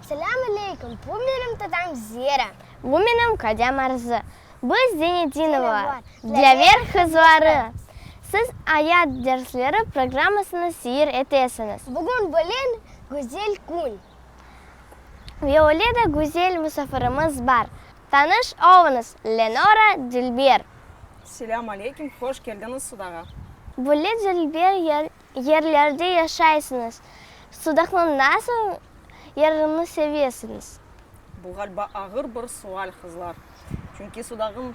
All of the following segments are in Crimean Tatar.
Selâm aleyküm, bu menim tadam Zera. Bu menim qadem Arzı. Biz Zenedinovalar, Dilâver qızları. Siz Ayat dersleri programmasını seyir etesiñiz. Bugün belen güzel kün. Ve öyle de güzel musafirimiz bar. Tanış olıñız, Lenora Dilber. Selâm aleykim, hoş keldiñiz Sudağa. Böyle dilber yerlerde yaşaysıñız, Sudaqnıñ nasıl yerini sevesiñiz? Bu ğalba ağır bir sual, qızlar. Çünki Sudağnıñ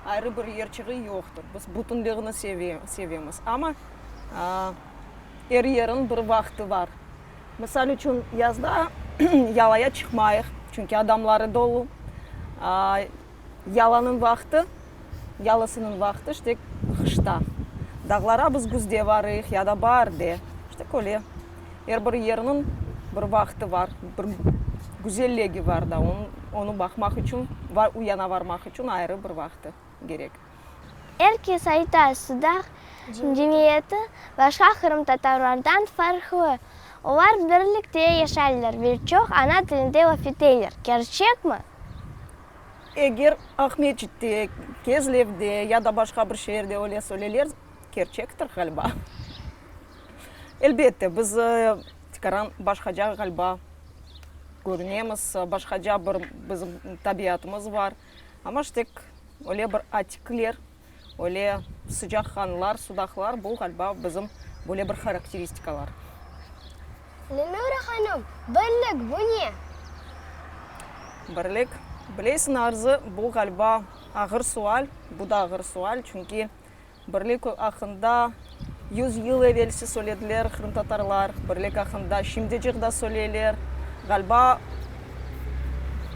ayrı bir yerçiği yoqtır. Biz bütünliğini sevemiz. Amma er yeriñ bir vaqtı bar. Misal içün, yazda yalaya çıqmayıq, çünki adamları dolu. Yalanıñ vaqtı, yalısınıñ vaqtı, işte, qışta. Dağlara biz güzde barıyıq ya da baarde. İşte, köyle, er bir yerniñ bir vaqtı bar, bir güzellegi bar da, onı baqmaq içün, uyana barmaq içün ayrı bir vaqtı kerek. Er kes ayta, Sudaq cemiyeti başqa qırımtatarlardan farqlı, olar birlikte yaşaylar ve çoq ana tilinde laf eteyler. Kerçekmi? Eger Aqmescitte, Kezlevde ya da başqa bir şeerde öyle söyleyler, kerçektir ğalba. Elbette, biz tikaran başqaca ğalba körünemiz, başqaca bir bizim tabiatımız bar. Amma ştek öyle bir atikler, öyle sıcaq qanlar, sudaqlar, bu, ğaliba, bizim böyle bir harakteristikalar. Lenura hanım, birlik, bu ne? Birlik? Bileysiñ, Arzı, bu, ğaliba, ağır sual, bu da ağır sual, çünki Birlik aqqında yüz yıl evelsi söylediler qırımtatarlar, birlik aqqında şimdicik da söyleyler. Ğaliba,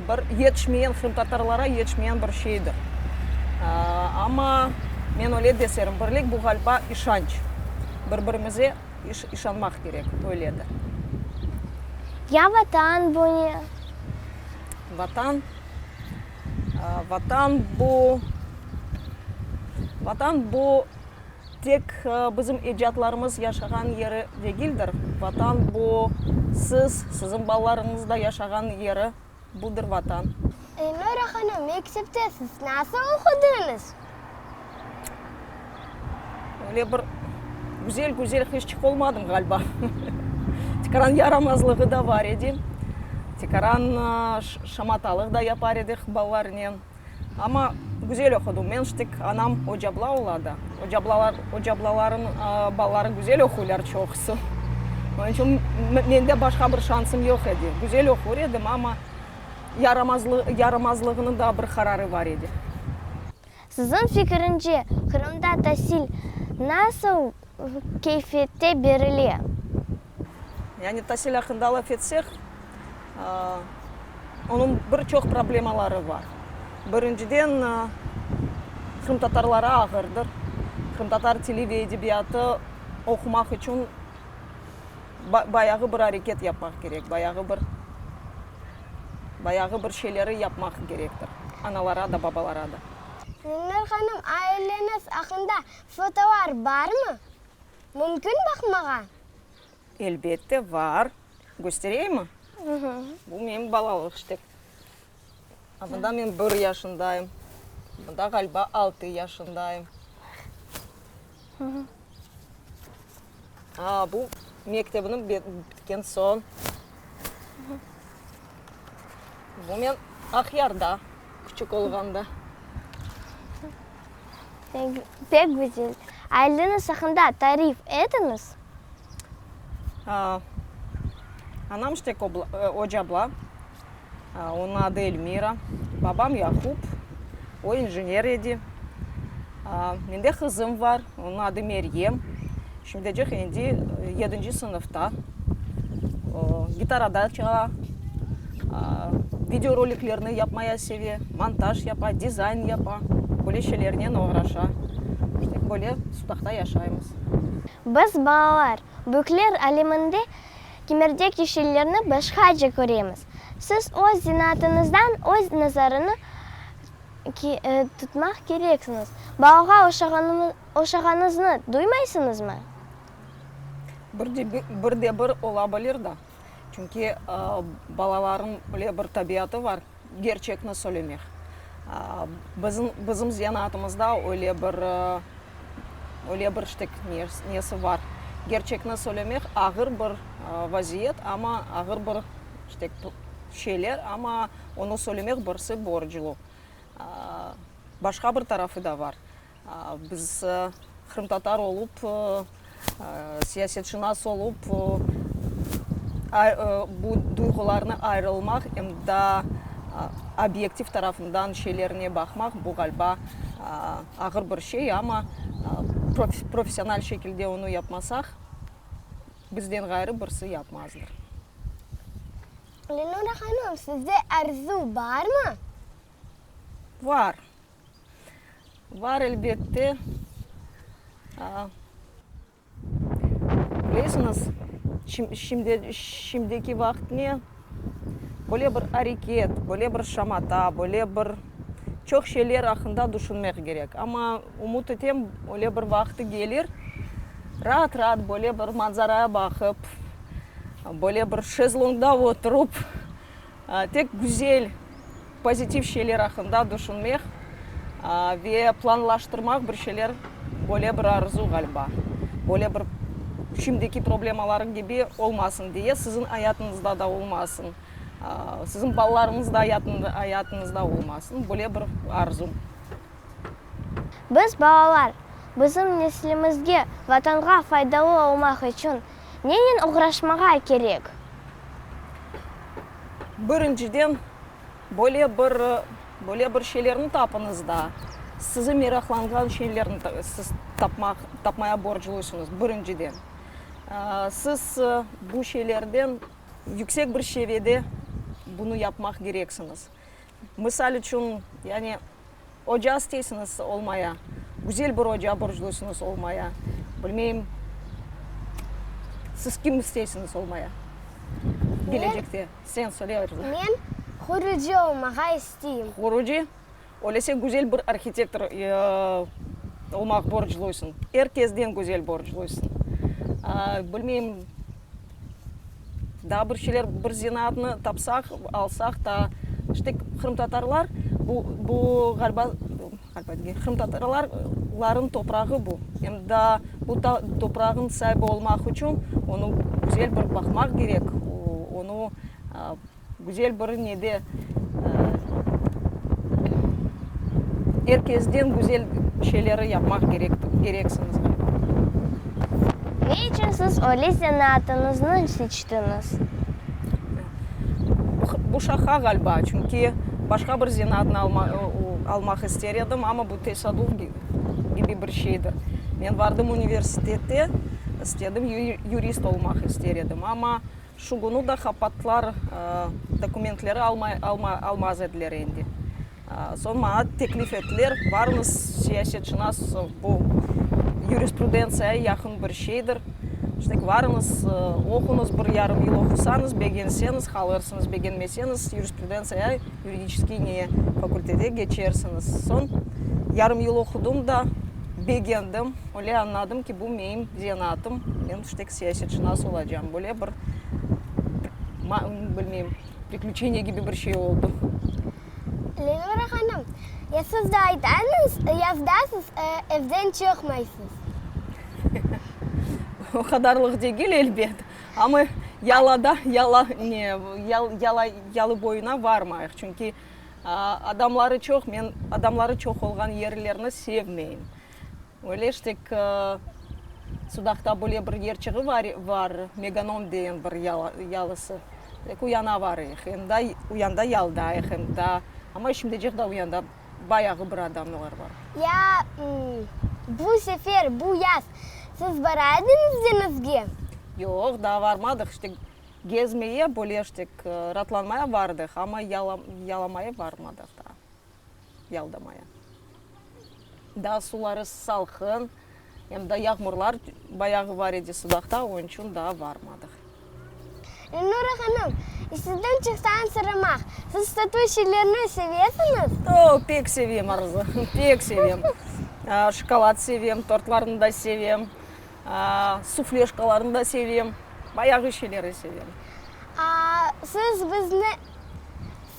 bir yetişmeyen qırımtatarlara yetişmeyen bir şeydir. Amma men öyle deserim, birlik bu ğaliba işanç. Bir-birimize işanmaq kerek, öyledir. Ya Vatan bu ne? Vatan? Vatan bu, Vatan bu tek bizim ecdadlarımız yaşağan yeri degildir. Vatan bu, siz, sizin balalarıñız da yaşağan yeri, budır Vatan. Elnura hanım, mektepte siz nasıl oqudıñız? Öyle bir güzel güzel hiç çık olmadım ğaliba. Tikaran yaramazlığı da bar edi. Tikaran şamatalıq da yapar edik balalarınen. Amma güzel oqudım. Men ştik anam ocabla ola da. Ocablaların balaları güzel oquylar çoqusı. Onıñ içün mende başqa bir şansım yoq edi. Güzel oqur edim, amma. yaramazlığınıñ da bir qararı bar edi. Siziñ fikiriñce, Qırımda tasil nasıl keyfiyette berile? Yani tasil aqqında laf etsek, onıñ bir çoq problemaları bar. Birinciden, qırımtatarlara ağırdır. Qırımtatar tili ve edebiyatı oqumaq içün Bayağı bir areket yapmaq kerek, bayağı bir, bayağı bir şeyleri yapmaq kerektir, analara da, babalara da. Münver hanım, aileñiz aqqında fotolar barmı? Mümkün baqmağa? Elbette, var. Köstereyimmi? Bu menim balalıq, işte. Bunda men bir yaşındayım. Bunda ğaliba altı yaşındayım. Aa, bu mektebni bitken soñ. Bu men Aqyarda, küçük olğanda. Pek güzel. Aileniz aqqında tarif etiñiz. Anam Ştek Ocabla, onıñ adı Elmira, babam Yakup, o injener edi. Mende qızım bar, onıñ adı Meryem, şimdicik endi yedinci sınıfta, gitarada çala, videoroliklerni yapmaya seve, montaj yapa, dizayn yapa, böyle şeylernen oğraşa. Böyle Sudaqta yaşaymız. Biz, balalar, büyükler aleminde kemerdek yeşillerni başqaca köremiz. Siz öz zinaatınızdan öz nazarını tutmaq kereksiñiz. Balağa oşağanıznı duymaysıñızmı? Bir de bir ola bilir da. Çünki balalarnıñ öyle bir tabiatı bar. Kerçekni söylemek. Bizim zanaatımızda öyle bir, öyle bir ştek nesi bar. Kerçekni söylemek ağır bir vaziyet, amma ağır bir ştek şeyler, amma onı söylemek birisi borclu. Başqa bir tarafı da bar. Biz qırımtatar olıp, siyasetşınas olıp, bu duyğularnı ayırılmaq, em da obyektiv tarafından şeylerine baqmaq, bu ğaliba ağır bir şey, amma professional şekilde onı yapmasaq, bizden ğayrı birisi yapmazdır. Lenora hanım, sizde arzu barmı? Var. Bar, elbette. Bilesiñiz, şimdiki vaqıt ne? Böyle bir areket, böyle bir şamata, böyle bir çoq şeyler aqqında tüşünmek kerek. Amma ümüt etem, öyle bir vaqıtı kelir, raat-raat böyle bir manzaraya baqıp, böyle bir şezlongda oturıp, Tek güzel, pozitiv şeyler aqqında düşünmek ve planlaştırmaq bir şeyler, böyle bir arzu, ğaliba. Böyle bir şimdiki problemalarnıñ kibi olmasın diye, siziñ ayatınızda da olmasın, siziñ balalarıñız ayatınızda olmasın, böyle bir arzu. Biz, balalar, bizim neslimizge, Vatanğa faydalı olmaq içün, Nennen oğraşmağa kerek? Birinciden, böyle bir, böyle bir şeylerni tapıñız da, sizi meraqlanğan şeylerni siz tapmaq, tapmaya borclısıñız, birinciden. Siz bu şeylerden yüksek bir seviyede bunı yapmaq kereksiñiz. Misal içün, yani, oca isteysiniz, olmaya, güzel bir oca borcluysınız, olmaya, bilmeyim, siz kim isteysiniz, olmaya, gelecekte? Sen söyle, Ayruza. Men qurucı olmağa isteyim. Qurucı? Öyleyse güzel bir arhitektor olmaq borcluysıñ. Er kesden güzel borcluysıñ. Bilmeyim. Daa bir şeyler, bir zenaatnı tapsaq, alsaq daa, işte, qırımtatarlar, bu, bu, ğaliba, ğaliba degil, qırımtatarlar, ların toprağı bu. Em daa bu toprağın saibi olmaq içün onı güzel bir baqmaq kerek, onı, aa, Güzel bir ne de, er kesden güzel şeyleri yapmaq kerek, kereksiñiz ğaybı. Ne içün siz öyle zanaatıñıznı seçtiñiz? Bu şaha ğalba, çünki başqa bir zanaatnı alma, almaq ister edim, amma bu tesaduv kibi bir şeydir. Men vardım universitete, istedim, yurist olmaq ister edim, amma Şu künü de qapatlar dokumentleri almaz ediler endi. Soñ maña teklif ettiler, barmız, siyasetşınas bu yurisprudentsiyaya yaqın bir şeydir, işte, barıñız, oquñız, bir yarım yıl oqusañız, begenseñiz, qalırsıñız, begenmeseñiz, yurisprudentsiyaya, yuridiçeskiy ne, fakultete keçersiñiz. Soñ yarım yıl oqudım da, begendim. Öyle añladım ki, bu meim zenaatım, men işte ki, siyasetşınas olacağım. Böyle bir, bilmeyim, priklüçeniye kibi bir şey oldı. Leyla hanım, ya siz de aytañız, ya da siz evden çıqmaysız. O qadarlıq degil, elbet. Amma yalada, yala, ne, yala, yalı boyuna varmayıq. Çünki adamları çoq, men adamları çoq olğan yerlerni sevmeyim. Öyle işte ki, Sudaqta böyle bir yer çığı var, Meganom degen bir yalısı. Tek uyana varıyıq, uyanda yaldayıq, enda. Amma şimdicik de uyanda bayağı bir adamlar var. Ya bu sefer, bu yaz siz bara ediñiz deñizge? Yoq, daa barmadıq. İşte gezmeye, böyle işte ki, ratlanmaya bardıq, amma yalamaya barmadıq daa. yalda maya. Daa suları salqın, em da yağmurlar bayağı bar edi Sudaqta, onıñ içün daa barmadıq. Elnura hanım, işsizden çıqsağan soramaq, siz satuv şeylerini sevesiñiz? Oo, pek sevem, Arzu, pek sevem. Şokolad sevem, tortlarnı da sevem, sufleşkalarnı da sevem, bayağı şeyleri sevem. Aa, siz bizni,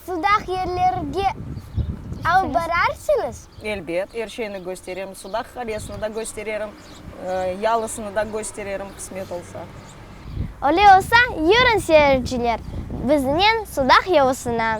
Sudaq yerlerge alıp bararsıñız? Elbet, er şeyni kösterim. Sudaq qalesini da köstererim, yalısını da köstererim, qısmet olsa. Öyle olsa, yürüñ, seyirciler, biznen Sudaq yalısına!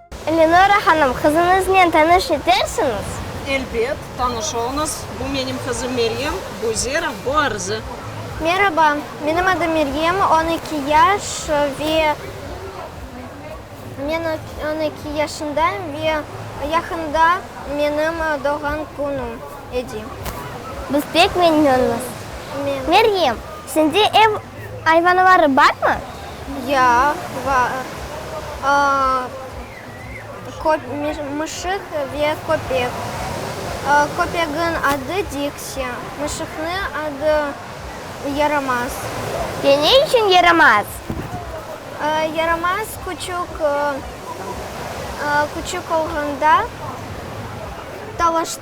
Lenora hanım, qızıñıznen tanış etersiñiz? Elbet, tanış oluñız. Bu menim qızım Meryem, bu Zera, bu Arze. Meraba, menim adım Meryem, on eki yaş ve men on eki yaşındayım ve yaqında menim doğğan künüm edi. Biz pek memnünmiz. Meryem, Sende ev ayvanları barmı? Ya, var. Köp, mışıq ve köpek. Köpegiñ adı Diksi, mışıqnı adı Yaramaz. Ve ne içün Yaramaz? Yaramaz küçük, küçük olğanda talaştı.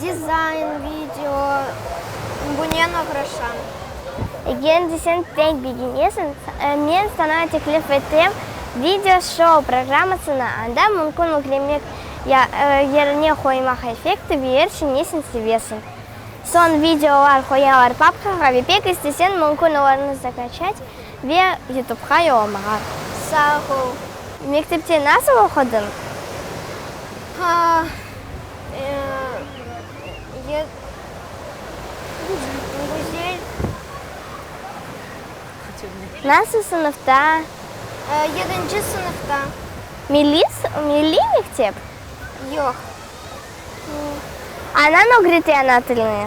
Dizayn, video, bunen oğraşam. Egendi sen pek begenesiñ, men saña teklif etem, video şou programmasını anda mümkün ügremek ya yerine qoymaq effekti ve er şey nesini sevesiñ. Soñ videolar qoyalar papkağa ve pek isteseñ mümkün olarnı zakaçat ve yutubqa yollamağa. Sağ ol. Mektepte nasıl oqudıñ? Nasıl sınıfta? Yedinci sınıfta. Milliy mektep? Yoq. Anañ ögrete ana tilini?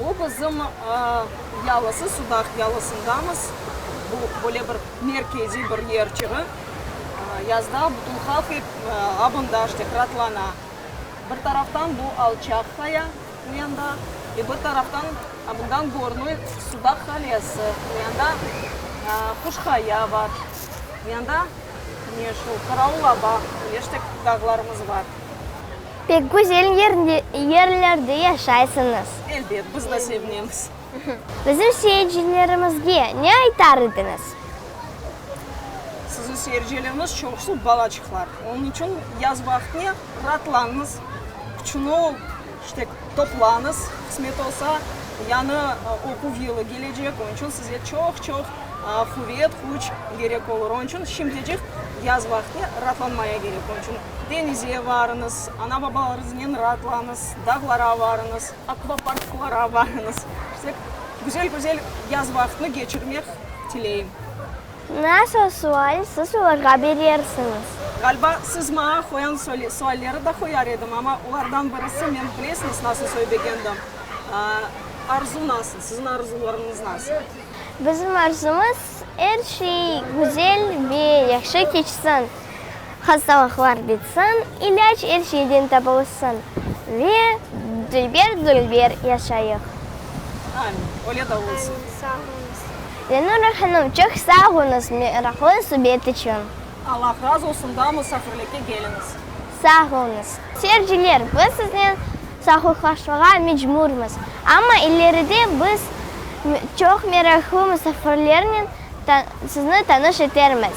Bu bizim yalısı, Sudaq yalısındamız. Bu böyle bir merkeziy bir yer çığı. Yazda bütün halq ep abındaj dep ratlana. Bir taraftan bu alçaq qaya bu yanda, e bir taraftan bundan görünü Sudaq qalesi. Bu yanda Quşqaya bar. Bu yanda ne şu Qaraulaba, Leştek dağlarımız bar. Pek güzel yerlerde yaşaysıñız. Elbet, biz de sevinemiz. Bizim seyircilerimizge ne aytar ediñiz? Siziñ seyircilerimiz çoqusı balaçıqlar. Onıñ içün yaz vaqtine raatlañız, küçüni toplañız, qısmet olsa, yañı oquv yılı kelecek, onıñ içün size çoq-çoq quvet, küç kerek olur. Onıñ içün şimdicik yaz vaqtine raatlanmaya kerek. Deñizge varıñız, ana-babalarıñıznen raatlañız, dağlara varıñız, akvaparklara varıñız. Şunday güzel-güzel yaz vaqtını keçirmek tileyim. Nasıl sual siz olarğa berersiñiz? Ğaliba, siz maña qoyan sualleri da qoyar edim, amma olardan birisi, men bilesiñiz nasıl söylegendim, arzu nasıl, siziñ arzuvlarıñız nasıl? Bizim arzumız, er şey güzel ve yahşı keçsin. Hastalıqlar bitsin, ilâc er şeyden tapılsın ve dülber-dülber yaşayıq. Amin. Öyle de olsun. Amin. Sağ oluñız. Lenura hanım, çoq sağ oluñız meraqlı subet içün. Allah razı olsun, daa musafirlikke keliñiz. Sağ oluñız. Seyirciler, biz siznen sahurlaşmağa mecburmız, amma ileride biz çoq meraqlı musafirlernen sizni tanış etermiz.